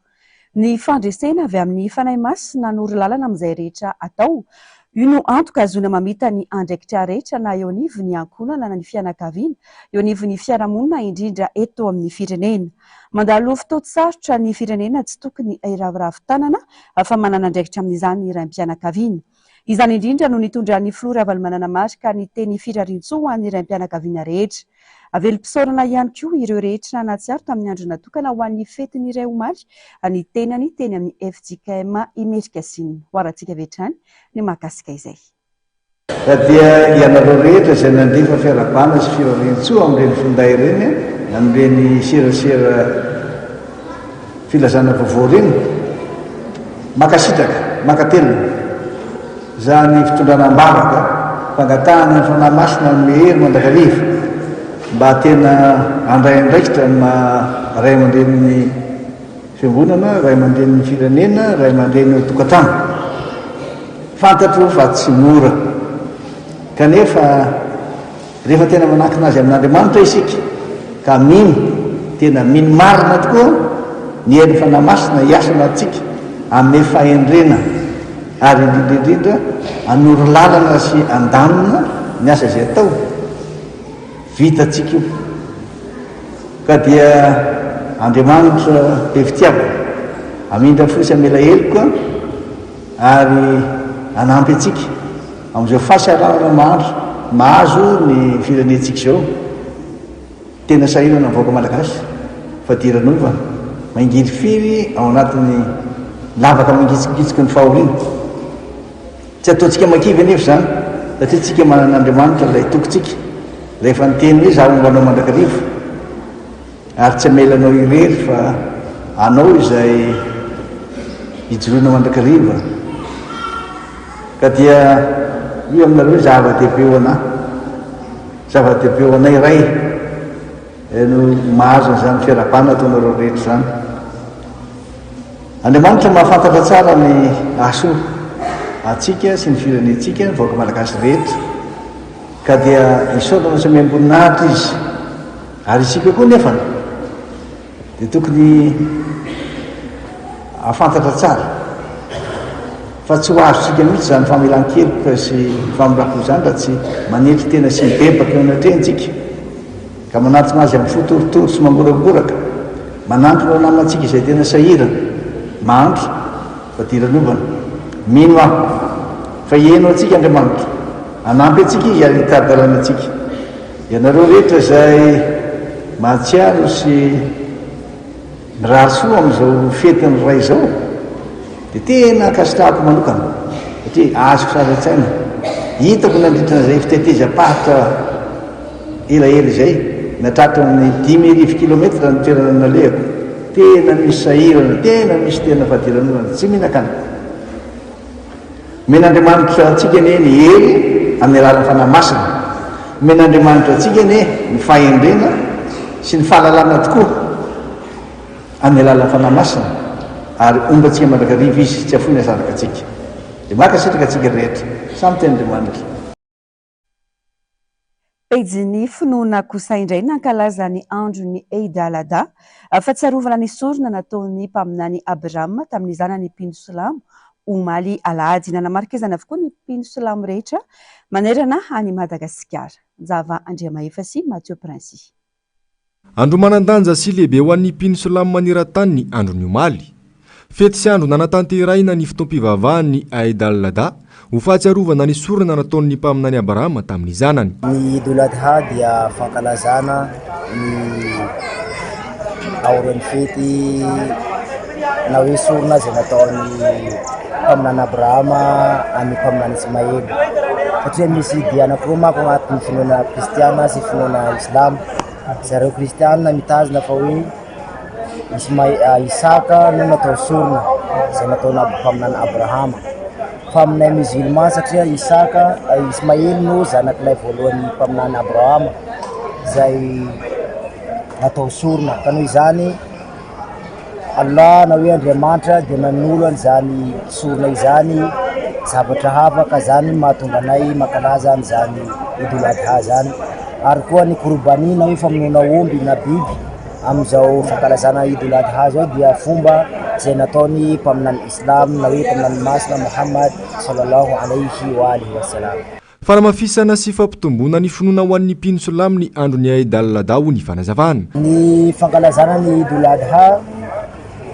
Ny fandresena avy amin'ny Fanahy Masina hanoro lalana amin'izay rehetra atao. Io no antoka ahazoana mamita ny andraikitra rehetra na eo anivon'ny ankohonana na ny fianakaviana, eo anivon'ny fiarahamonina indrindra eto amin'ny firenena. Mandalo fotoan-tsarotra ny firenena tsy tokony hiraviravy tanana fa manana andraikitra amin'izany ny raim-pianakaviana. Izany indrindra no nitondran'ny filoha Ravalomanana Marc ny teny Firariantsoa ho an'ny raim-pianakaviana rehetra. Velom-pisaorana ihany koa ireo rehetra nahatsiaro tamin'ny andro natokana ho an'ny fety ny iray omaly ny tenany teny amin'ny fjkm Imericasinina. Hoarantsika avy hatrany ny mahakasika izay. Ka dia ianareo rehetra izay nandefa fiarahabana sy firariantsoa amin'ireny finday ireny, amin'ireny serasera. Filazana vaovao reny. Makasitraka, makatelina. Za ny fitondrana ambavaka, fangatahana ny Fanahy Masina hanome hery mandrakariva mba tena handray andraikitra ny maha ray aman-drenin'ny Fiangonana, ray aman-drenin'ny firenena, ray aman-dreny eo an-tokantrano. Fantatro fa tsy mora. Kanefa. Rehefa tena manakina azy amin'Andriamanitra isika ka mino, tena mino marina tokoa ny herin'ny Fanahy Masina hiasa ao anatintsika, hanome fahendrena ary indrindra indrindra hanoro lalana sy handamina ny asa izay atao, vitantsika io. Ka dia Andriamanitra be fitiavana hamindra fo sy hamela heloka ary hanampy antsika. Amin'izao fahasahiranana mahandro mahazo ny firenentsika izao, tena sahirana ny vahoaka malagasy, fadiranova mangirifiry ao anatin'ny lavaka mangitsikitsiky ny fahoriana. Tsy ataontsika makivy anefa izany, satria tsika manana Andriamanitra ilay tokintsika, rehefa niteny hoe za homba anao mandrakariva, Ary tsy hamela anao irery fa hanao izay hijoroana mandrakariva, ka dia io aminareo ny zava-dehibe ho anà. Zava-dehibe ho anay Ray no mahazo an'izany fiarahabana ataonareo rehetra izany. Andriamanitra mahafantatra tsara ny hahasoa antsika sy ny firenentsika, ny vahoaka malagasy rehetra, ka dia isaorana sy amem-boninahitra Izy. Ary isika koa nefa dia tokony afantatra tsara fa tsy ho azontsika mihitsy izany famelan-keloka sy famindram-po izany raha tsy manetry tena sy mibebaka eo anatrehantsika ka manatona azy amin'ny fo torotoro sy mangoragoraka manantona ho namantsika izay tena sahirana mahantra fadiranovana mino aho fa heno antsika Andriamanitra hanampy antsika izy ary hitari-dalana antsika Ianareo rehetra izay mahatsiaro sy mirary soa amin'izao fetin'ny Ray izao dia tena ankasitrahako manokana satria azoko sary an-tsaina, hitako nandritra an'izay fitetezam-paritra elaela izay nahatratra ny dimy arivo kilometatra ny toerana nalehako, tena misy sahirana, tena misy tena fadiranorana tsy mihinakana. Omen'Andriamanitra antsika anie ny hery amin'ny alalan'ny Fanahy Masina. Omen'Andriamanitra antsika anie ny fahendrena sy ny fahalalana tokoa amin'ny alalan'ny Fanahy Masina ary ombantsika mandrakariva Izy, tsy afoiny azanaka antsika. Dia mankasitraka antsika rehetra. Samy tian'Andriamanitra. Pejin'ny finoana kosa indray nankalaza ny andron'ny Eid al-Adha, fahatsiarovana ny sorona nataon'ny Mpaminany Abrahama tamin'ny zanany mpino silamo, omaly alahady. Nanamarika izany avokoa ny mpino silamo rehetra manerana an'i Madagasikara. Njava Andriamahefa sy Mathieu Princix. Andro manan-danja sy lehibe ho an'ny mpino silamo maneran-tany ny andron'ny omaly. Fety sy andro nanatanterahina ny fotoam-pivavahan'ny Aïd al-Adha, ho fahatsiarovana ny sorona nataon'ny Mpaminany Abrahama tamin'ny zanany. Ny Eid ul-Adha dia fankalazana ny aorian'ny fety. na hoe sorona izay nataon'ny mpaminany Abrahama amin'ny mpaminany Ismaely. Satria misy dia anankiroa manko agnatin'ny finoana kristiana sy finoana islamo. Zareo kristiana mitazona fa hoe Ismae- Isaka no natao sorona izay nataona mpaminany Abrahama. Fa aminay musulman satria Isaka, Ismaely no zanak'ilay voalohan'ny mpaminany Abrahama izay natao sorona. Ka noho izany Allah na hoe Andriamanitra dia nanolo an'izany sorona izany zavatra hafa ka izany no mahatonga anay mankalaza an'izany Idul Adha izany ary koa ny Qurbani na hoe famonoana omby na biby amin'izao fankalazana Idul Adha izao dia fomba izay nataon'ny mpaminany Islam na hoe mpaminany masina Muhammad Sallallahu Alaihi wa alihi wa sallam. Fanamafisana sy fampitomboana ny finoana ho an'ny mpino silamo ny andron'ny Eid al-Adha hoy ny fanazavana. Ny fankalazana ny Eid ul-Adha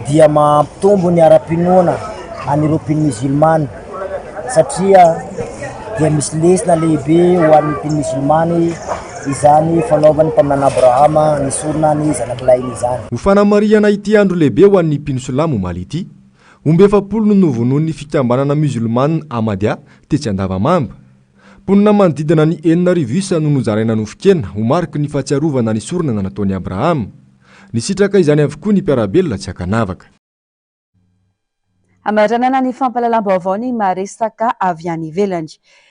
dia mampitombo ny ara-pinoana an'ireo mpino mizilmana satria dia misy lesona lehibe ho an'ny mpino mizilmana izany fanaovan'ny Mpaminany Abrahama ny sorona ny zanakilahiny izany. Ho fanamarihana ity andro lehibe ho an'ny mpino silamo omaly ity, Omby efapolo no novonoin'ny fikambanana Musulmana Ahmadiyya tetsy Andavamamba. Mponina manodidina ny enina arivo isa no nozaraina nofon-kena ho mariky ny fahatsiarovana ny sorona nataon'i Abrahama. Nisitraka izany avokoa ny mpiara-belona tsy ankanavaka. Hamaranana ny fampahalalam-baovao ny maresaka avy any ivelany.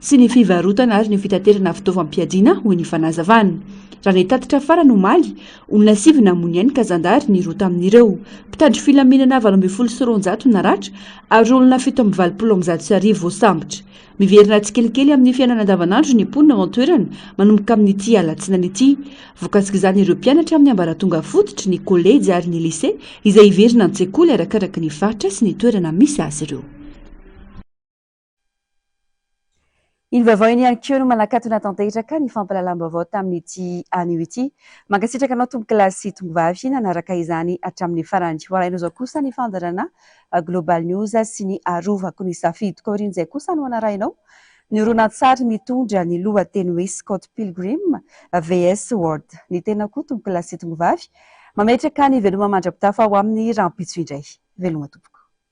sy ny fivarotana ary ny fitaterana fitaovam-piadiana, hoy ny fanazavana. Raha ny tatitra farany omaly, olona sivy namono ainy ka zandary ny roa tamin'ireo. Mpitandro filaminana valo ambin'ny folo sy roanjato naratra ary olona fito amby valopolo amin'ny zato sy arivo voasambotra. Miverina tsikelikely amin'ny fiainana andavanandro ny mponina ao an-toerana manomboka amin'ity alatsinainy ity. Vokasik'izany ireo mpianatra amin'ny ambaratonga fototry ny kolejy ary ny lise izay hiverina an-tsekoly arakaraka ny faritra sy ny toerana misy azy ireo. Iny vaovao iny ihany koa no manakatona tanteraka ny fampahalalam-baovao tamin'ity anio ity. Mankasitraka anao tompokolahy sy tongovavy nanaraka izany hatramin'ny farany. Ho alainao izao kosa ny fandaharana Global News sy ny Arovako ny safidiko. Aorian'izay kosa no hanarahinao ny horonantsary mitondra ny lohateny hoe Scott Pilgrim VS World. Ny tenako koa tompokolahy sy tongovavy mametraka ny veloma mandra-pitafa ho amin'ny rahampitso indray. Veloma tompoko.